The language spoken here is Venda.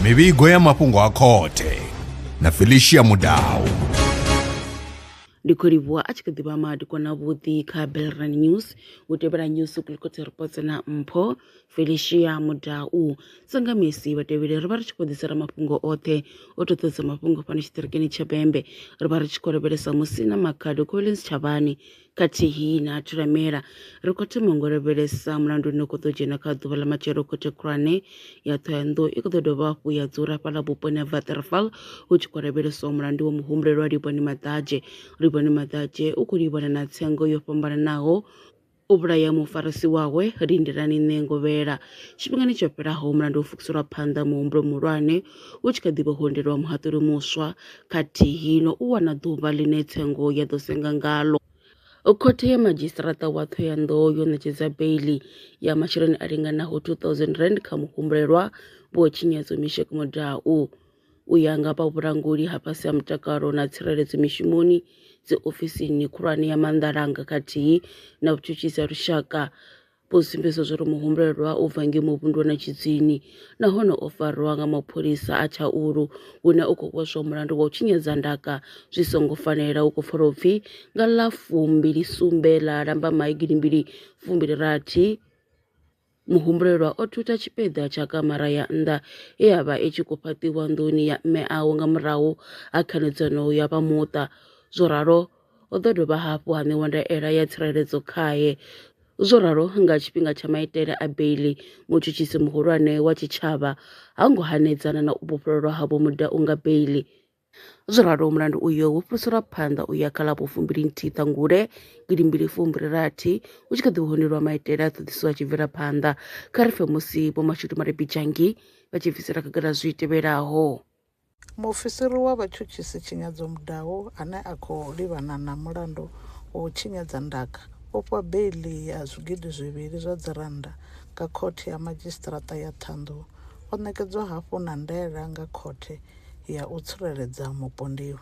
mivhigo ya mafhungo a khothe na felicia mudau ndi khou livhuwa a tshi kha ḓivha madikwana vhuḓi kha belran news u tevhela news kulikotse ripotse na mpho felicia mudau sanga misi vhatevheli ri vha ri tshi khou ḓisela mafhungo oṱhe o toṱodza mafhungo fhano tshiṱirikini tsha bembe ri vha ri tshi khou lavhelesa musi na makhado collins tshavhani Khathihi na thulamela, ri khou thoma ngo lavhelesa mulandu une u khou ḓo dzhena kha ḓuvha ḽa matshelo khothe khulwane ya Thohoyandou i khou ḓo dovha hafhu ya dzula hafhaḽa vhuponi ha Waterval hu tshi khou lavheleswa mulandu wa muhumbulelwa Livhoni Maḓadzhe. Livhoni Maḓadzhe u khou livhana na tsengo yo fhambananaho u vhulaya mufarisi wawe Lindelani Nṋengovhela. Tshifhingani tsho fhelaho mulandu wo fukiselwa phanḓa muhumbulo muhulwane U tshi kha ḓi vho hundelwa muhaṱuli muswa khathihi no u wana ḓuvha ḽine tsengo ya ḓo senga ngalo, Khothe ya Madzhisiṱaraṱa wa Thohoyandou yo ṋetshedza beiḽi ya masheleni a linganaho R2000 kha muhumbulelwa Vho Tshinyadzo Misheck Mudau. U ya nga vha vhulanguli ha fhasi ha mutakalo na tsireledzo mishumoni dziofisini khulwane ya maanḓalanga khathihi na vhutshutshisi ha lushaka, vho sumbedza zwauri muhumbulelwa u bva ngei muvhunduni na tshidzini nahone o farwa nga mapholisa a Tshaulu hune u khou vhoswa mulandu wa u tshinyadza ndaka zwi songo fanela hu khou pfala u pfi nga ḽa fumbili sumbe ḽa Lambamai gidimbili fumbili rathi muhumbulelwa o thutha tshipiḓa tsha kamara ya nnḓa ye ya vha i tshi khou fhaṱiwa nḓuni ya mme awe nga murahu ha khanedzano ya vha muṱa zwo ralo O ḓo dovha hafhu ha ṋewa ndaela ya tsireledzo khae. Zwo ralo, nga tshifhinga tsha maitele a beiḽi, mutshutshisi muhulwane wa tshitshavha ha ngo hanedzana na u vhofhololwa ha Vho Mudau nga beiḽi. Zwo ralo, mulandu uyo wo fhiriselwa phanḓa u ya kha ḽa vho fumbilinthihi Ṱhangule gidi mbili fumbili rathi hu tshi kha ḓi honelwa maitele a ṱhoḓisiso a tshi bvela phanḓa. Kha ri pfe musi Vho Mashudu Malebidzhangi vha tshi bvisela khagala zwi tevhelaho. Muofisiri wa vhatshutshisi Tshinyadzo Mudau ane a khou livhana na mulandu wa u tshinyadza ndaka o fhiwa beiḽi ya zwigidi zwivhili zwa dzirannda nga Khothe ya Madzhisiṱiraṱa ya Ṱhohoyanḓou. O ṋekedzwa hafhu na ndaela nga Khothe ya u Tsireledza Mupondiwa.